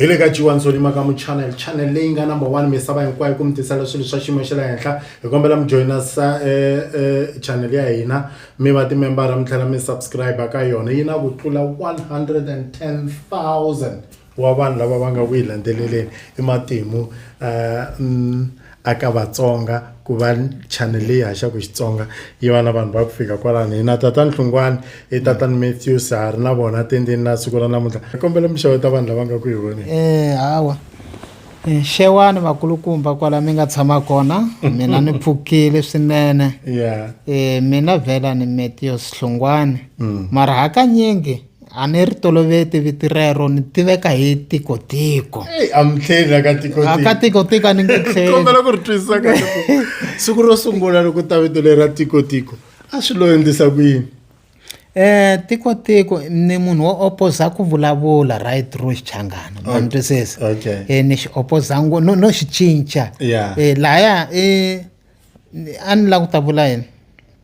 hi le ka jiwa ndzonima ka muchannel channel leyi nga number one misava hinkwayo ku mi tisela swilo swa xiyimo xa le henhla hi kombela mi joyina sa eh, eh, channel ya hina mi va timembara mi tlhela mi subscribe ka yona yi na ku tlula 110000 wa vanhu lava va nga ku yi landzeleleni i matimu um aka vatsonga ku va channel leyi haxaku xitsonga yi va na vanhu va ku fika kwalano hina tatani hlungwani i tatani matthews ha ri na vona tendeni na siku ra namuntlha i kombela mi xeweta vanhu lava nga ku hi voneni um hawa eh, xewani vakulukumba kwala mi nga tshama kona mina ni pfukile swinene ya um mina vhela ni matthews hlungwani mm. mara hakanyingi a ni ri toloveti viti rero ni tiveka hi tikotiko amtlheli aka tikotikoaka tikotiko a ni nge tlhelikombela ku ri twisisa ka siku ro sungula loko ta vito leri ra tikotiko a swi lo endlisa ku yini eh tiko tiko ni munhu wo opposa ku vulavula right through xichangana ma ni twisisa eh ni xi opposa ngo no no xi cinca eh laya eh a ni la ku ta vula yini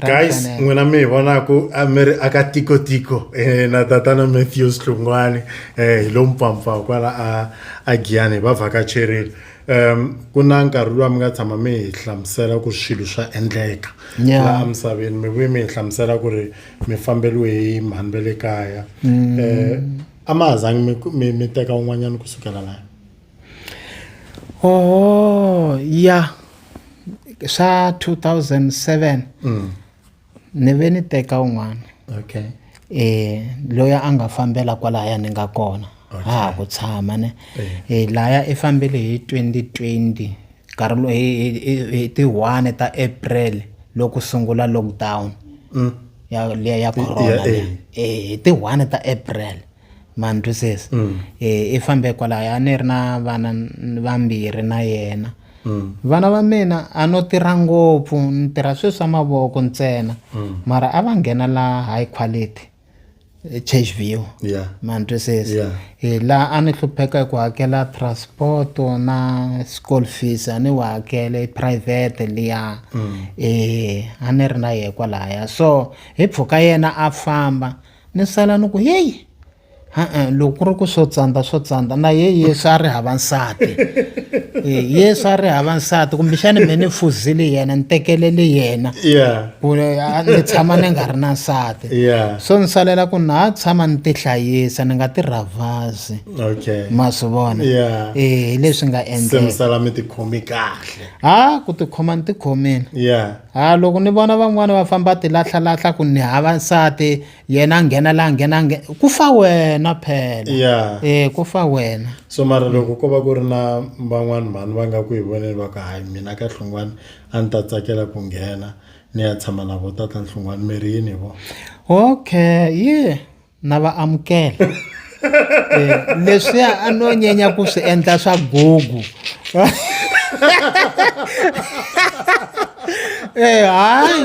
guys n'wina mi hi vonaku a mi ri aka tikotiko eh, na tatana matthews hlungwani eh, hi lomu pfampfawu kwala a a giyani hi va vhakacherile um ku na nkarhi luwa mi nga tshama mi hi hlamusela ku swilo swa endleka laha misaveni mi vuye mi hi hlamusela ku ri mi fambeliwe hi mhani va le kaya um a ma ha zangi mi teka un'wanyana kusukela laya oh ya swa two thousand seven mm. ni ve ni teka un'wana okay eh loyi a nga fambela kwalaya ni nga kona okay. ha ha ku tshama ne eh. eh laya i fambele hi 2020 nkarhi lowu hi ti 1 ta April loko sungula lockdown mm. ya ya corona eh, eh. eh hi ti 1 ta April mantu sesi mm. e, i fambe kwalaya a ni ri na vana vambirhi na yena mm. vana va mina a no tirha ngopfu ni tirha swilo swa mavoko ntsena mm. mara a va nghena la high quality church view yeah. mantu sesi yeah. e, laha a ni hlupheka hi ku hakela transport na school fees a ni wa hakele private liya mm. e, a ni ri na yehe kwalaya so hi pfuka yena a famba ni sala ni ku yeyi e-e loko ku ri ku swo tsandza swo tsandza na ye yesu a ri hava nsati e, yesu a ri hava nsati kumbexani me ni fuzile yena ni tekelele yena ku ni tshama ni nga ri na nsati so ni salela ku na ha tshama ni tihlayisa ni nga ti rhavhazi ma swi vona e hi leswi nga endleka ha ku tikhoma ni tikhomile Ha loko ni vona van'wani va famba tilahlalahlha ku ni hava nsati yena a nghena la nghena nghe ku fa wena phela ya um ku fa wena so mara loko ko va ku ri na van'wani mhani va nga ku hi voneni va ku hayi mina ka hlungwani a ni ta tsakela ku nghena ni ya tshama na vo tata nhlungwani mi ri yini hi vona okay yi na va amukela eh, leswiya a no nyenya ku swi endla swa gugu eh hayi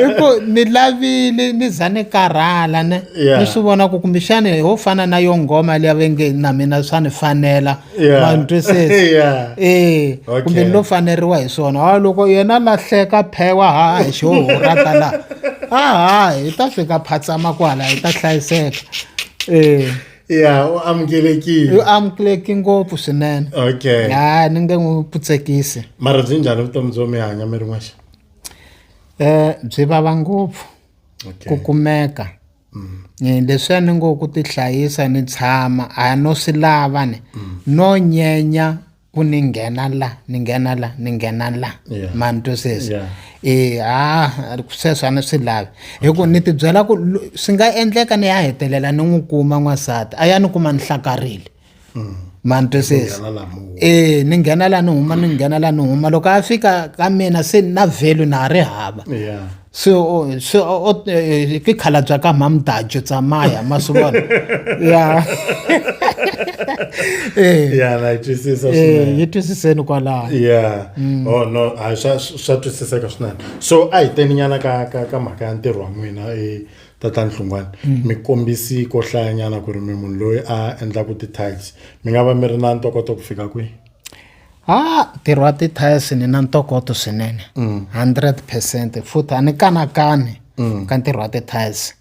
iku ni lavile ni za ni karhala ne ni swi vona ku kumbexani ho fana na yo nghoma leyi va nge na mina swa ni fanela Yeah. ma ni twisisa Yeah. Eh, Okay. kumbe ni lo faneriwa hi swona a loko yena lahleka phewa ha hi xo horata la a ha hi ta fika phatsama kwala hi ta hlayiseka eh Yeah, u amukelekile. yu amukeleki ngopfu swinene Okay. ha ni nge n'wi putsekisi Mara byi njhani vutomi byo mi hanya mi ri n'waxa? um byi vava ngopfu ku Okay. kumeka leswiya ni ngo ku tihlayisa ni tshama a no swi lava ni no nyenya ku ni nghena la ni nghena la ni nghena la ma ni twisisa e ha sweswo a ni swi lavi hi ku ni tibyela ku swi nga endleka ni ya hetelela ni n'wi kuma n'wansati a ya ni kuma ni hlakarile mm. ma ni twisisa e ni nghena laha ni huma ni nghena laha ni huma loko a fika ka mina se na value na ha ri hava se se eh, ke khalabya ka mhamdajo tsamaya ma swi vona ya eh. ya na yi twisisa eh, yi twisiseni kwalaho ya mm. oh no a swa swa twisiseka swinene so a hi teni nyana ka ka ka mhaka ya ntirho wa n'wina tata nhlungwana mm. mi kombisi ko hlayanyana ku ri mi munhu loyi a endlaka ti-tiles mi nga va mi ri na ntokoto ku fika kwihi ha ntirho wa ti-tiles ni na ntokoto swinene mm. hundred percent futhi a ni kanakani mm. ka ntirho wa ti-tiles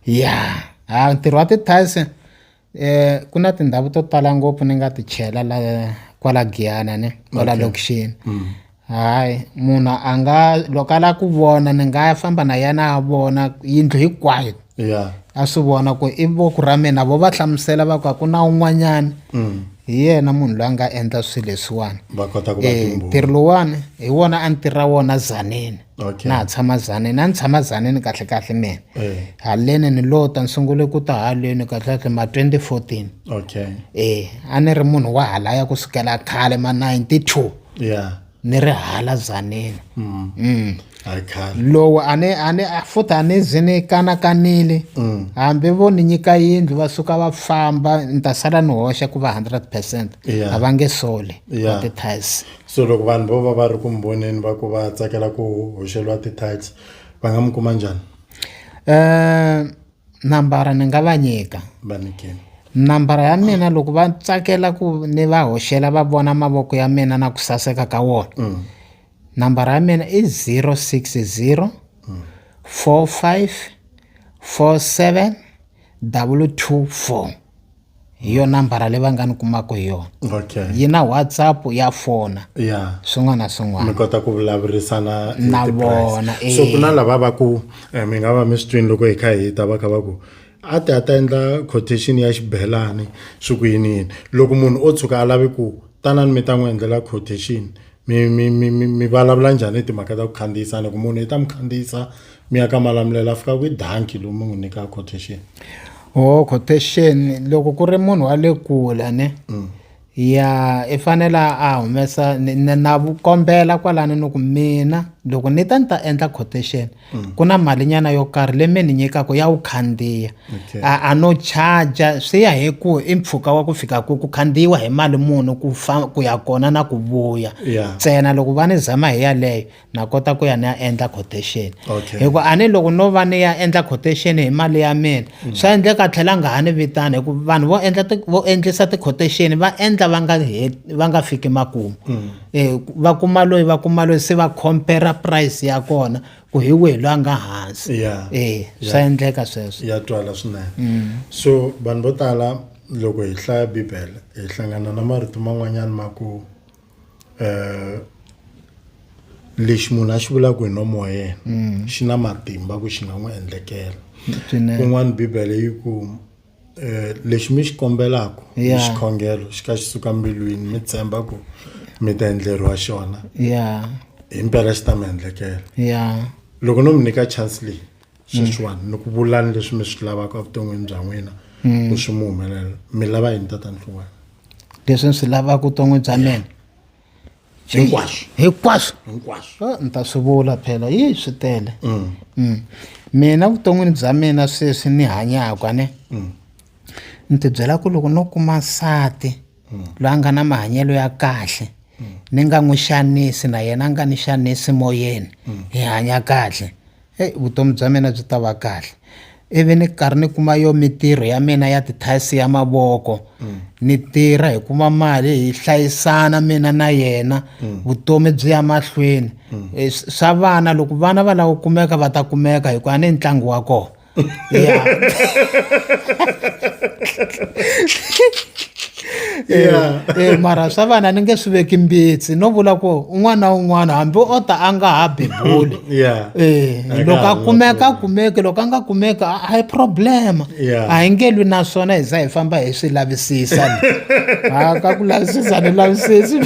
ya ha ntirho wa ti-tiles Eh ku na tindhawu to tala ngopfu ni nga ti chela la kwala Giyana ni kwala okay. lokishini mm. hayi munhu a nga loko a lava ku vona ni nga famba na yena a vona yindlu hinkwayo yeah. a swi vona ku i voku ra mina vo va hlamusela va ku a ku na un'wanyana mm. hi yena munhu loyi a nga endla swilo leswiwani eh, ntirho lowani hi wona a ni tirha wona zanini okay. na ha tshama zaneni a ni tshama zaneni kahle kahle mina eh. haleni ni lota ni sungule ku ta haleni kahle kahle ma 2014 okay eh a ni ri munhu wa halaya ku sukela khale ma 92 yeah ni ri hala zaneni mm. mm. lowu a ni a ni futhi a ni ze ni kanakanile mm. hambi vo ni nyika yindlu va suka va famba ni ta sala ni hoxa ku va 100 percent a va nge soli va ti-tice So loko vanhu vo va va ri ku mi voneni va ku va tsakela ku hoxeliwa ti-tights va nga mi kuma njhani Eh, nambara ni nga va nyika va nyikeni nambara ya mina loko va tsakela ku ni va hoxela va vona mavoko ya mina na ku saseka ka wona Mm. nambara ya mina i 060 45 47 224 hi yo nambara leyi va nga ni kumaka hi yona okay yi na whatsapp ya fona ya swin'wana na swin'wana mi kota ku vulavurisana hi Na ti-price. vona, so eh. ku na lava va ku eh, mi nga va mi swi twini loko hi kha hi ta va kha va ku a ti a ta endla quotation ya xibelani swi ku yini yini loko munhu o tshuka a lavi ku tanani mi ta n'wi endlela quotation mi mi mi mi mi vulavula njhani timhaka ta ku khandziyisa ni ku munhu i ta mi khandziyisa mi ya ka malamulelo a fika kwi danki lowu mi n'wi nyika quotation o oh, quotation loko ku ri munhu wa le kule ne mm. ya i fanele a humesa na kombela kwalani ni ku mina loko ni ta ni ta endla quotation mm. ku na malinyana yo karhi leyi mi ni nyikaka ya wu khandziya okay. a, a no charger swi ya hi ku i mpfhuka wa ku fika ku ku khandziyiwa hi mali muni ku fa ku ya kona na ku vuya ntsena yeah. loko va ni zama hi yaleyo na kota ku ya ni ya endla quotation okay. hi ku a ni loko no va ni ya endla quotation hi mali ya mina mm. swa endleka tlhela nga ha ni vitana hi ku vanhu vo endla vo endlisa ti-quotation va endla va nga va nga fiki makumu mm. E va kuma loyi va kuma loyi se va compare price ya kona ku hi wihi loyi a nga hansi yeah. e swa yeah. endleka sweswo ya twala swinene mm. so vanhu vo tala loko hi hlaya bibele hi hlangana na marito man'wanyana ma ku um lexi munhu a xi vulaka hi nomo wa yena mm. xi na matimba ku xi nga n'wi endlekela kun'wana bibele yi ku Eh, lexi mi xi kombelaka hi xikhongelo xi ka xi suka mbilwini mi tshemba ku mi ta endleriwa xona ya hi mpela xi ta mi endlekela ya loko no mi nyika chance leyi sweswiwani ni ku vulani leswi mi swi lavaka evuton'wini bya n'wina ku swi mi humelela mi lava yini tatani hluwana leswi ni swi lavaka vuton'wini bya mina hinkwaswo hinkwaswo hinkwaswo ni ta swi vula phela yi swi tele mm. Mm. mina vuton'wini bya mina sweswi ni hanyaka ne mm. ni tibyela ku loko no kuma nsati mm. loyi a nga na mahanyelo ya kahle mm. ni nga n'wi xanisi na yena a nga ni xanisi moyeni mm. hi hanya kahle eyi vutomi bya mina byi ta va kahle ivi ni karhi ni kuma yo mintirho ya mina ya tithayisi ya mavoko ni tirha hi kuma mali hi hlayisana mina na yena vutomi byi ya mahlweni eh, swa vana loko vana va lava ku kumeka va ta kumeka hikuva ni ntlangu wa kona yeah. e, mara swa vana ni nge swi veki mbitsi no vula ku un'wana na un'wana hambi o ta a nga ha bebuli yeah. e, loko a kumeka a kumeki loko a nga kumeki a hi problema yeah. a hi nge lwi na swona hi za hi famba hi swi lavisisa a ka ku lavisisa ni lavisisi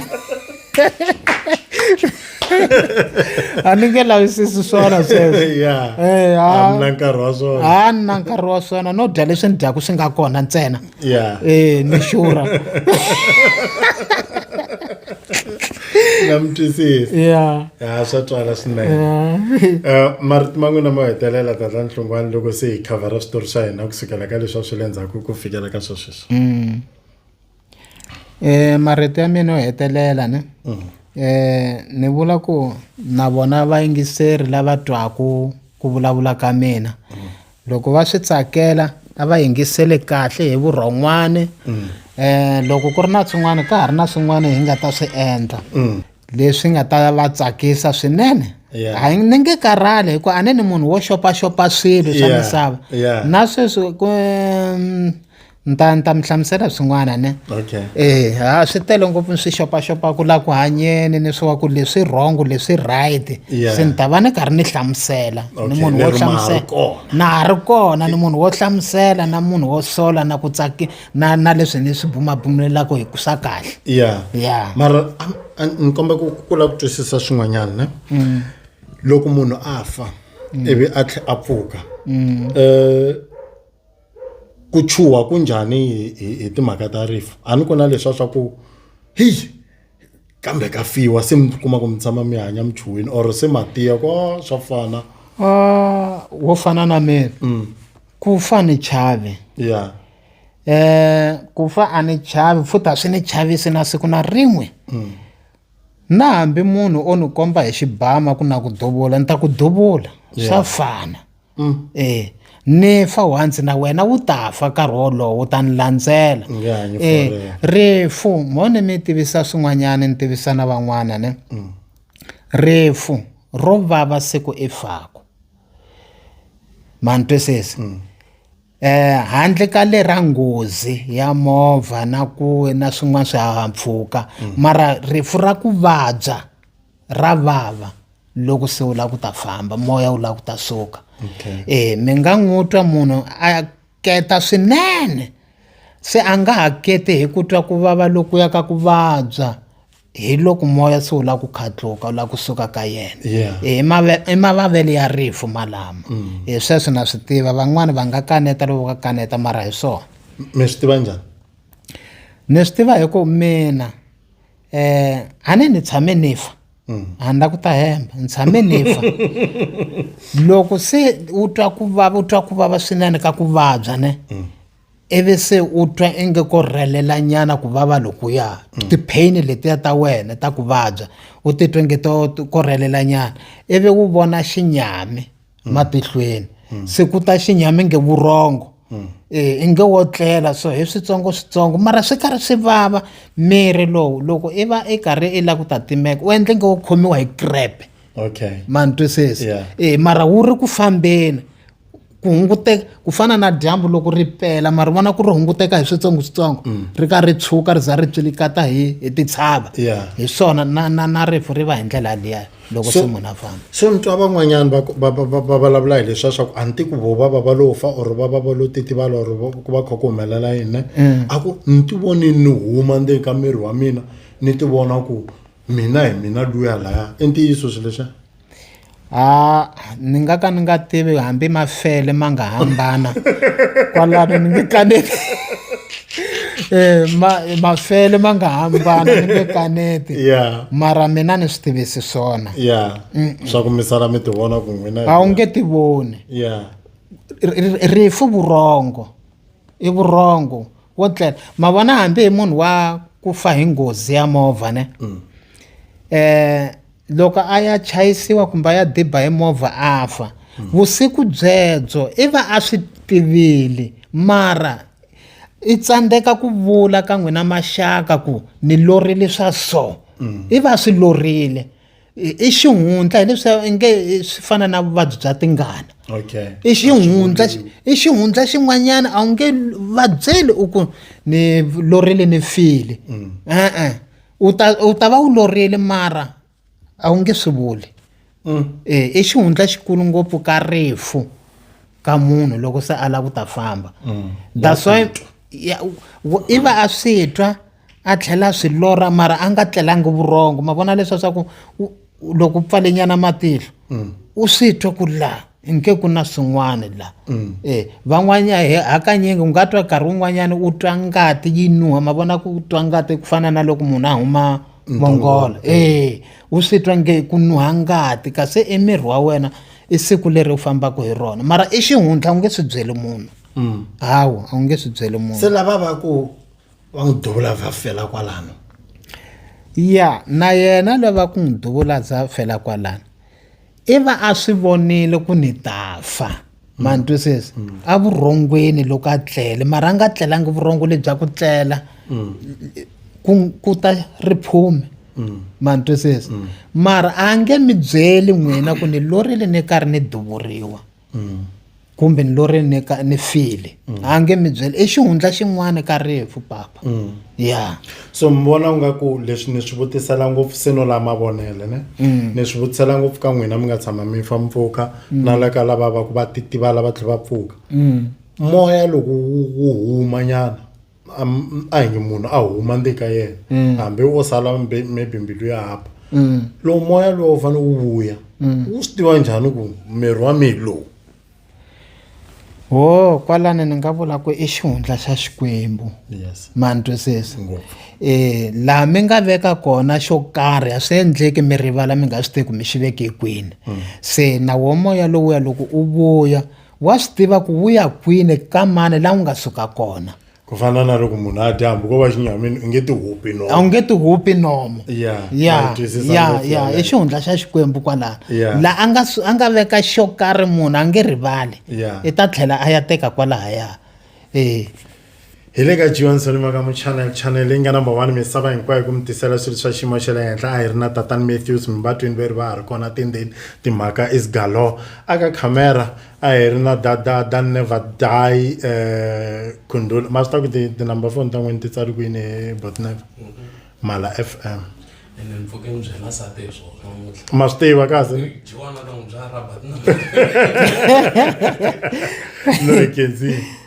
a ni nge lavisisi swona sweswoa ni na nkarhi wa swona no dya leswi ni dyaku swi nga kona ntsena yeah eh nimeshura namtwisisa yeah ya swa twala swinene yeah Eh, marito man'wina mo hetelela tata nhlungwani loko se hi khavhara switori swa hina kusukela ka leswi a swi le ndzhaku ku fikela ka swa sweswi Mm. Eh marito ya mina yo hetelela ne. Eh ni vula ku na vona vayingiseri lava twaku ku vulavula ka mina. loko va swi tsakela a va yingisele kahle hi vurhon'wana mm. eh loko ku ri na swin'wana ka ha ri na swin'wana hi nga ta swi endla mm. leswi nga ta va tsakisa swinene hayi ni nge karhali hikuva a ni ni munhu wo xopaxopa swilo swa misava na sweswi ku mm, ni ta ni ta mi hlamusela swin'wana ne okay eh ha swi tele ngopfu ni swi xopaxopa ku la ku hanyeni ni swi wa ku leswi wrong leswi right yeah. se ni ta va ni karhi ni hlamusela okay. ni munhu wo hlamusela na ha ri kona ni munhu wo hlamusela na munhu wo sola na ku tsaki na na leswi ni swi bumabumulelaka hi ku swa kahle yeah yeah mara ni komba ku kula ku twisisa swin'wanyana ne mm. loko munhu a fa mm. ivi a tlhe a pfuka mm. eh ku chuha ku njhani hi hi timhaka ta rifu a ni ku na leswa swa ku heyi kambe ka fiwa se mi kuma ku mi tshama mi hanya mi chuhile or se matiya ku a swa fana Ah, wo fana na mina mm. ku fa ni chavi ya eh ku fa a ni chavi futhi a swi ni chavisi na siku na rin'we mm. na hambi munhu o ni komba hi xibama ku na ku duvula ni ta ku duvula swa fana e ni fa once na wena wu ta fa nkarhi wolowo ta ni landzela e rifu mo ni mi tivisa swin'wanyana ni tivisa na van'wana ne mm. rifu ro vava siku i faku mani twisisi mm. Eh handle ka le ra nghozi ya movha na ku na swin'wana swihahampfhuka mm. mara rifu ra ku vabya ra vava loko se u lava ku ta famba moya wu lava ku ta suka okay. eh mi nga n'wi twa munhu a keta swinene se a nga ha keti hi ku twa ku vava lokuya ka ku vabya hi loko moya se wu lava ku khatluka wu lava ku suka ka yena Yeah. Eh, i mave- i mavavelo ya rifu malama Eh, sweswo na swi tiva van'wani va nga kaneta loko va kaneta mara hi swona mi swi tiva njhani ni swi tiva hi ku mina eh a ni ni tshame ni fa a ni la ku ta hemba ni tshame ni fa loko se u twa ku vava u twa ku vava swinene ka ku vabya ne ivi se u twa inge ko rhelela nyana ku vava lokuya mm. ti-pain letiya ta wena ta ku vabya u titwa nge to ko rhelela nyana ivi u vona xinyami mm. matihlweni mm. se ku ta xinyami nge vurhongo Eh, i nge wo tlela so hi switsongo switsongo mara swi karhi swi vava miri lowu loko i va i karhi i lava ku ta timeka u endle nge wo khomiwa hi crepe okay ma ni twisisa yeah. e mara wu ri ku fambeni ku hunguteka ku fana na dyambu loko ri pela ma ri vona ku ri hunguteka hi switsongoswitsongo mm. ri ka ri tshuka ri za ri tsilikata hi hi titshava hi swona na na na rifu ri va hi ndlela liya loko se munhu a famba se ni twa van'wanyana va vulavula hi leswiya swa ku a ni ti ku vo va va va lo fa or va va va lo titivala or ku va kha ku humelela yini mm. a ku ni ti voni ni huma ndzeni ka miri wa mina ni ti vona ku mina hi mina luya laya i ntiyiso swi leswiya Ha ni nga ka ni nga tivi hambi ma fele ma nga hambana kwalano ni nge kaneti eh, ma mafele ma nga hambana ni nge kaneti yeah. mara mina ni swi tivisi swona yeah. mm -mm. swa ku misala mi tivona ku n'wina a wu nge tivoni yeah. rifu vurhongo i vurhongo wo tlela ma vona hambi hi munhu wa ku fa hi ngozi ya movha ne mm. eh loko a ya chayisiwa kumbe a ya diba hi movha a fa hmm. vusiku byebyo i va a swi tivile mara i tsandzeka ku vula ka n'wina maxaka ku ni lorile swa so hmm. i va swi lorile i xihundla hileswi inge swi fana na vuvabyi bya tingana i xihundla i xihundla xin'wanyana a wu nge vabyeli u ku ni lorile ni file mm. e-e u ta u ta va u lorile mara a wu nge swi vuli mm. e i xihundla xikulu ngopfu ka rifu ka munhu loko se a lava ku ta famba mm. that's why i va a swi twa a tlhela a swi lora mara a nga tlelangi vurhongo ma vona leswa swa ku loko u pfalenyana matihlo mm. u swi twa ku laha nke ku na swin'wana laha mm. e eh, van'wanyana he hakanyingi u nga twa nkarhi wun'wanyana u twa ngati yi nuha ma vona ku twa ngati ku fana na loko munhu a huma mongola e eh, u swi twa nge ku nuha ngati kasi emiri wa wena i siku leri u fambaka hi rona mara i xihundla u nge swi byeli munhu mm. hawa a wu nge swi byeli munhu se lava va ku va n'wi duvula vha fela kwalano ya na yena loyi va ku n'wi duvula za fela kwalano i va a swi vonile ku ni ta fa ma ni twisisa a vurhongweni loko a tlele mara a nga tlelangi vurhongo lebya ku tlela ku ta riphume ma ni twisisa mara a nge mi byeli n'wina ku ni lorile ni karhi ni duvuriwa mm. kumbe ni lori ni ka ni file mm. a nge mi byela i xihundla xin'wana ka rifu papa mm. ya so mi vona u nga ku leswi ni swi vutisela ngopfu se no la mavonele ne mm. ni swi vutisela ngopfu ka n'wina mi nga tshama mi fa mpfuka mm. na la ka lava va ku va titivala va tlhe va pfuka mm. moya loko wu huma nyana am- a hi nge munhu a huma ndi ka yena Mm. hambi wo sala mbe- maybe mbilu ya hapa Mm. lowu moya lowu wu fanele wu vuya Mm. wu swi tiva njhani ku miri wa mina lowu wo kwalani ni nga vula ku i xihundla xa xikwembu yes mantwisisa ngopfu eh laha mi nga veka kona xo karhi a swi endleki mi rivala mi nga swi tivi ku mi xi veke kwini se na wo moya lowuya loko u vuya wa swi tiva ku vuya kwini ka mani laha u nga suka kona ku fana na loko munhu a dya hambi ko va xinyamini u nge ti hupi nomo a wu nge ti hupi nomo ya ya ya ya i xihundla xa xikwembu kwalano laha a nga a nga veka xo karhi munhu a nge rivali i ta tlhela a ya teka kwalahaya eh hi le ka johnson makamu channel channel leyi nga number one misava hinkwayo ku mi tisela swilo swa xiyimo xa le henhla a hi ri na tatani matthews mivatwini ve ri va ha ri kona tindeni timhaka is galo aka camera a hi ri na dadada never die um eh, khundula ma swi ta ku tinumber phone ta n'wini ti tsali kwini hi botnever mala f m ma swi tiva kahle no kenzie